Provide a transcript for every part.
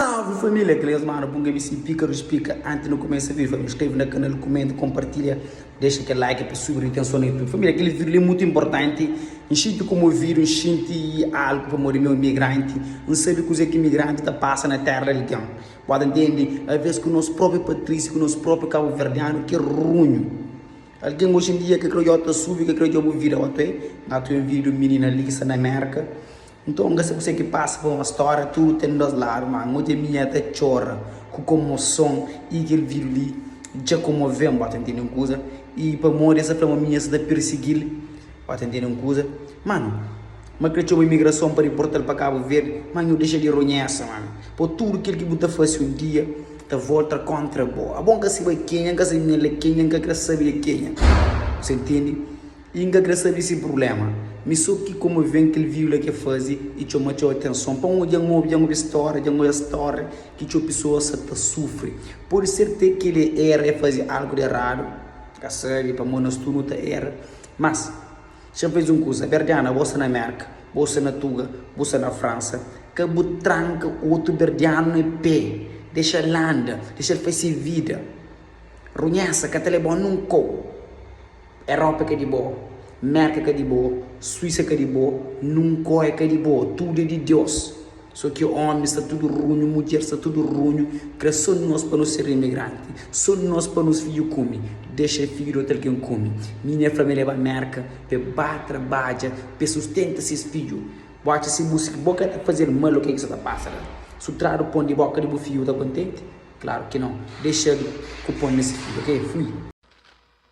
Salve família, kel es mana bun gabi sin pika rus pika anti nu kumesa viva nu inskreve na kanal kumenta konpartilha dexa kel like pa subi nu itenson na youtube família kel vídeo li mutu inportanti n xinti kumovidu n xinti algu pamodi meu migranti n sabi kuze ki migranti ta pasa na terra algen bo ta ntende aves ku nos propi patrisi ku nos propi kabuverdianu ki runhu algen oxindia ke kre yo ta subi ke kre yo bu vida ote nga ta ovi di un minina lisa na merka Nton N ka sa kuse ki pasa pa ma stória tudu ten dos ladu, má N odja minha ta txora ku komoson i kel vídiu li dja komove-m, bo ta ntende un kuza? I pamodi el sa fla ma minha sa ta pirsigi-l, bo ta ntende un kuza? Mano, ma kre txoma imigrason pa diporta-l pa Kabu Verdi, má nhu dexa di ronhesa, mano, po tudu kel ki bu ta fase un dia ta volta kóntra bo. Abo N ka siba kenha, N ka sa minha la kenha, N ka kre sabe di kenha, bu sa ntende? I nka kre sabe si prublema. Mi so ki komo ven kel viula ke faze i txoma txeu atenson. Pa un djan obi, djan obi stória, djan oia stória ki txeu pesoa sa ta sufri. Pode ser te ki el e era, e faze algu de eradu, ka sabe, pamo nos tudu nu ta era. Mas, xa fez un kuza, berdiana, bo sta na Merka, bo sta na Tuga, bu sta na Fransa, ka bu tranka otu berdianu ne pe, dexa-l landa, dexa-l faz se vida. Runhesa ka ta leba-u nun kau. Europa ka di bo, Merka ka di bo, Suíça ka di bo, Nunkóia ka di bo, tudo é di Deus, só ki homens sta tudo runho, mulher sta tudo runho, kre só nós pa nós ser imigranti, só nós pa nós filho kumi, dexa é filho di outro alguém kumi, minha é fla-me leba Merka pa é ba trabadja pa é sustenta ses filho, bo atxa si bu si bo ka ta fazer mal o ke ki sa ta passa la, su tradu pon di boka di bu filho bu ta contente? Claro ki não, dexadu ku pon na si filho ok fui.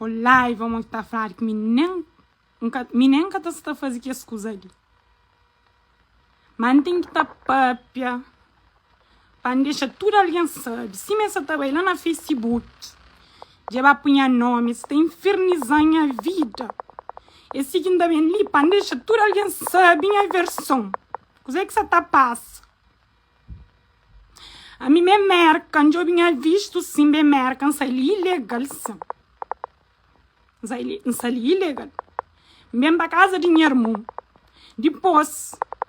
Ol laiva mon ki ta fladu ki mi nen N ka mi nen ka ta sta fazi kes kuza li ma N ten ki ta papia pa N dexa tudu algen sabi sima es sa ta bai la na facebook dja ba pu nha nomi es ta infirniza nha vida e si ki N ta ben li pa N dexa tudu algen sabi nha verson kuza ki sa ta pasa. Ami me merka n djobe nha vistu si n be merka n sai li ilegal si n sai li ilegal n ben pa kaza di nha irmu dipos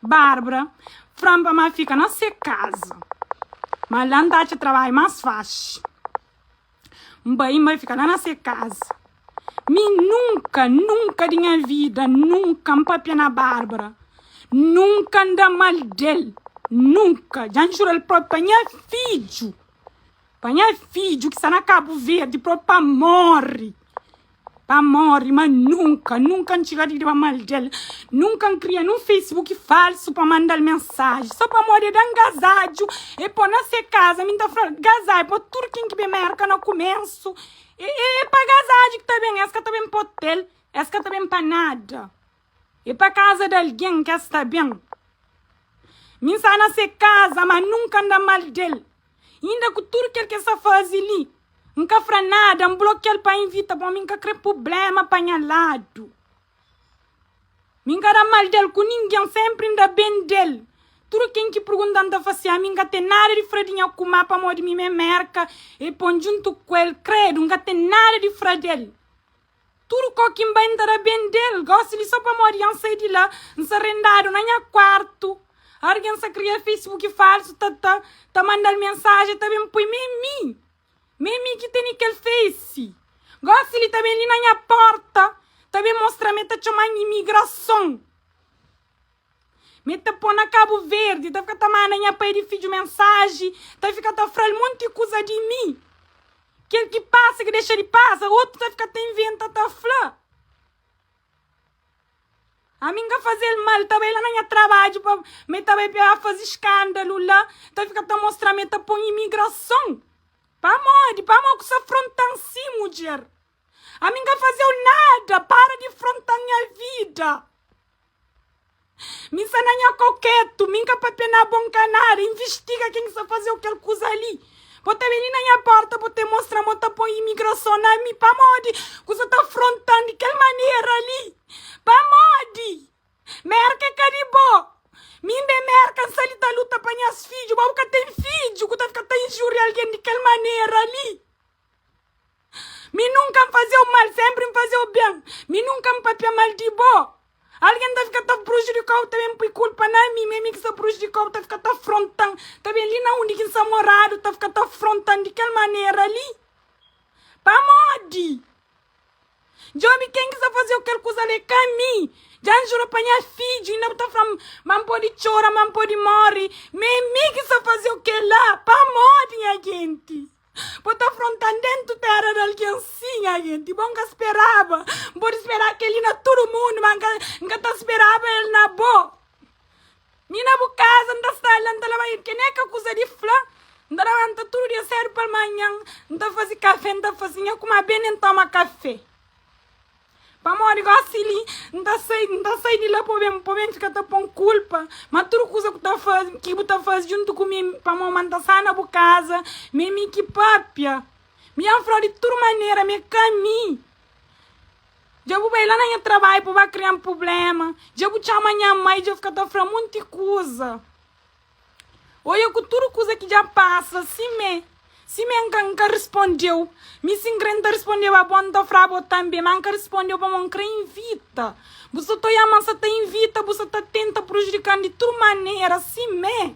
Barbara flam pa ma fika na se kaza ma la n ta atxa trabadju mas faxi. N bai, N bai fika la na se kaza. Mi nunka, nunka di nha vida, nunka N pâpia na Bárbara, nunka N da mal di el, nunka. Dja N jura-l própi pa nha fidju, pa nha fidju ki sta na Kabuverdi, própi pa móre. Pa mori ma nunka nunka N txiga di ba mal del Nunka N kria nun facebook falsu pa mandal mensaji Só pamodi e dan gazadju e po na se kaza Mi N ta flal gazá e po tudu kin ki ben Merka na kumensu E pa gazadju ki ta ben es ka ta ben pa otel Es ka ta ben pa nada. E pa kaza di algen ke sta ben. Mi nsa na se kaza ma nunka nda mal del. Inda ku tudu kel ke sa fazi li nka fra nada nblokial pa invita bo mi nka kre publema pa nha ladu. Mi nka da mal del ku ningen senpri nda ben del. Tudu ken ki purgunta nta fasia mi nka ten nada di fra di nha kuma pamodi mi me merka e pon juntu ku el kredu nka ten nada di fra del. Tudu kó ki N bai N ta da ben del Gosi li só pamodi dja N sai di la N sa rendadu na nha kuartu Argen sa kria facebook falsu Ta ta ta mandal mensaji Ta ben poi m'é mi M'é mi ki tene kel face Gosi li ta ben li na nha porta Ta ben mostra-m el ta txoma-m imigrason Mi ta po na Kabu Verdi, ta fika ta manda nha pai di fidju mensaji, ta fika ta fra-l monti kuza di mi, kel ki pasa, ki dexa di pasa, otu ta fika ta inventa ta fla. Ami N ka faze-l mal, ta bai la na nha trabadju pa mi ta bai pa faze skandalu la, ta fika ta mostra mi ta pon imigrason. Pamodi? Pamodi ku sa fronta-m si, mudjer? Ami nka fazeu nada para di frontan nha vida mi sa na nha kau ketu mi nka papia na bo nka nada investiga ken ki sa fazeu kel kuza li bo ta beni na nha porta bo ta mostra mo ta poi imigrason na mi pamodi kusa ta frontan di kel manera li pamodi merka ka di bo mi nbe merka nsa li ta luta pa nhas fidju bo bu ka ten fidju ku ta fika ta injuria algen di kel manera li. Mi nunka N faze-u mal, sénpri N faze-u ben. Mi nunka N pâpia mal di bo. Algen ta fika ta prujudika-u, ta ben pui kulpa na mi. Ma é mi ki sta prujudika-u, ta fika ta afronta-m. Ta ben li na undi ki N sta moradu, ta fika ta afronta-m di kel manera li. Pamodi? Dja obi ken ki sta faze-u kel kuza li, é ka mi. Dja N jura pa nha fidju, inda bu ta fla-m ma N pode txora, ma N pode móre. Ma é mi ki sta faze-u kel-la. Pamodi, nha jenti? Bo ta frontan dentu tera di algen sin agenti bo nka speraba n podi spera keli na tudu mundu ma nka nka ta speraba el na bo mi na bu kaza nta sta la nta laba ke neka kuza di fla nta labanta tudu dia sedu pa manhan nta fazi kafe nta fasi nha kuma bene ntoma kafe Pamodi gosi li N ta sai, N ta sai di la Pô ben, pô ben fika ta pô-m kulpa Ma tudu kuza ku ta faze, ki bu ta faze Djuntu ku mi, pamô ma N ta sana bu kaza M'é mi ki pâpia, mi dja N fla-u di tudu manera M'é ka mi, dja bu bai la na nha trabadju pa ba kria-m prubléma Dja bu txoma nha mai, dja fika ta fla-m monti kuza. Oia ku tudu kuza ki dja pasa simé simé nka nka rispondeu mi si nkre nta rispondeu abo a nta fra abo tanbe ma nka rispondeu pamo nkre invita bu sa ta oia ma sa ta invita bu sa ta tenta prujudikan di tudu manera simé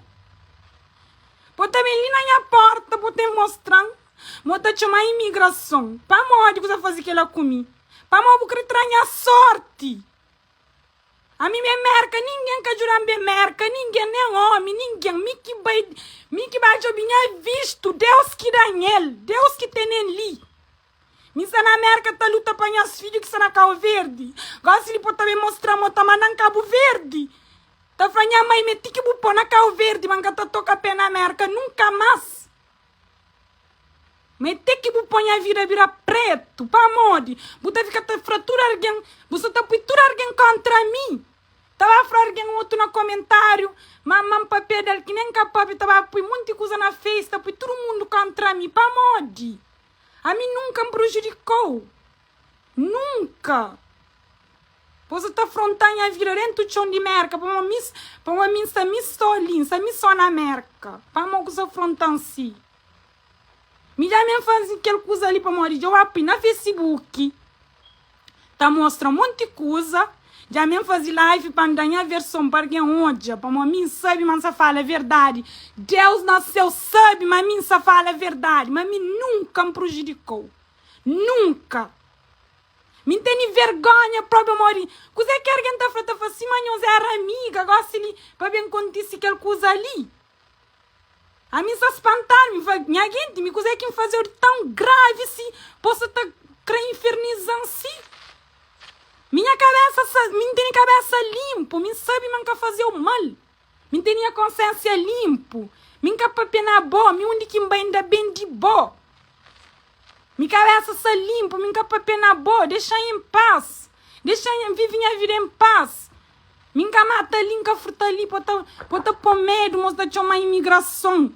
bo ta ben li na nha porta bo ten mostran mo ta txoma imigrason pamodi bu sa fazi kela ku mi pamo bu kre tra nha sorti. Ami ben merka ningen ka djudan ben merka ningen nen omi ningen mi ki bai mi ki bai djobi nha vistu Deus ki da nhel Deus ki tenen li mi sta na merka ta luta pa nhas fidju ki sta na kau verdi gosi li po ta ben mostra mo ta mandan kabu verdi ta fla nha mai me ti ki bu po na kau verdi ma nka ta toka pe na merka nunka mas. Ma é te ki bu poi nha vida bira pretu Pamodi bu ta fika ta fra tudu algen Bu sa ta pui tudu algen kóntra mi Ta ba fra algen otu na komentáriu Ma ma-m pa peda-l ki nen ka pobi Ta ba pui monti kuza na face Ta pui tudu mundu kóntra mi Pamodi ami nunka N prujudikó-u. Nunka! Bo sa ta fronta nha vida dentu txon di Merka pamo mi pamo mi nsa mi so li nsa mi so na Merka pamo ku sa frontan si mi dja mi fazi kel kuza li pamodi dja wapi na fesibuki ta mostra monti kuza dja mi fazi live pa nda nha verson pa algen odja pamo mi nsabi ma nsa fala verdadi Deus na seu sabi ma mi nsa fala verdadi ma mi nunka nprujidikau. Nunka! Mi N tene vergonha probe modi kuze ki ergen ta fla ta fla sima nhos era amiga gosi li pa ben kontisi kel kuza li ami N sa spantadu mi fla nha genti mi kuze ki N fazeu di tão grave si po sa ta kre infernizan si mi nha kabesa sa mi N tene kabesa linpu mi N sabi ma N ka fazeu mal. Mi n ten nha konsénsia linpu Mi n ka pa pená bo Mi undi ki n bai n ta ben di bo Mi kabésa sta linpu Mi n ka pa pená bo Dexa-m en pas Dexa-m en vive nha vida en pas Mi n ka mata li N ka furta li Pa bu ta po-m medu Ma bu sta txoma imigrason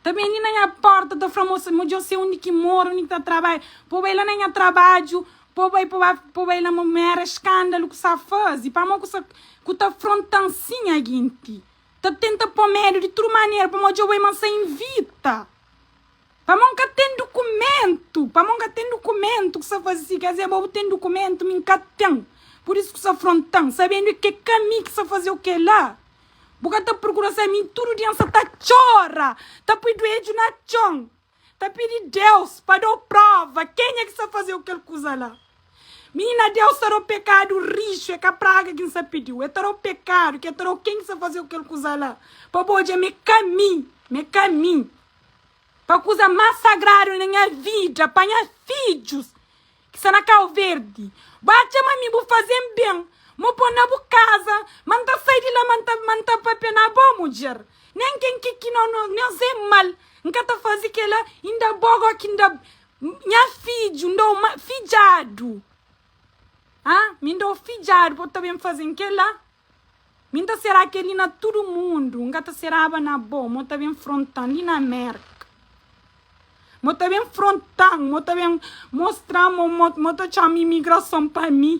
Ta beni na nha porta ta fla moça mo djo se undi ki mora undi ki ta trabalha po bai la na nha trabadjo po bai po ba po bai la mo ma era escândalo ku sa fazi pamo ku sa ku ta frontan si nha genti ta tenta po medo di tudu manera pa mo djo bai ma sa invita pamo n ka ten dukumentu pamo n ka ten dukumentu ku sa fazi si kazê bo bu ten dukumentu mi n ka ten pur isu ku sa frontan sabendu ke ka mi ki sa faze oke la Bu ka ta prokura sai mi tudu dia nsa ta txora ta pui duedju na txon ta pidi Deus pa dau prova kenha ki sa fazeu kel kuza la minina Deus ta dau pekadu rixu e ka praga ki nsa pidiu e ta dau pekadu ki e ta dau ken ki sa fazeu kel kuza la pa bu odja me ka mi me ka mi pa kuza mas sagradu na nha vida pa nha fidjus ki sta na kau verdi bu a txema mi bu faze-m ben mo po na bu kaza ma n ta sai di la ma n ta ma n ta papia na bo mudjer nen ken ki ki no no nos e mal n ka ta faze kela inda bo go ki nda nha fidju n da-u ma fidjadu ha mi n da-u fidjadu po ta ben faze-m kela Mi nta será kel-li na tudu mundu, N ka ta seraba na bo, Mo ta ben fronta-m li na Mérka Mo ta ben fronta-m, mo ta ben mostra-m Mo ta txoma imigrason pa mi.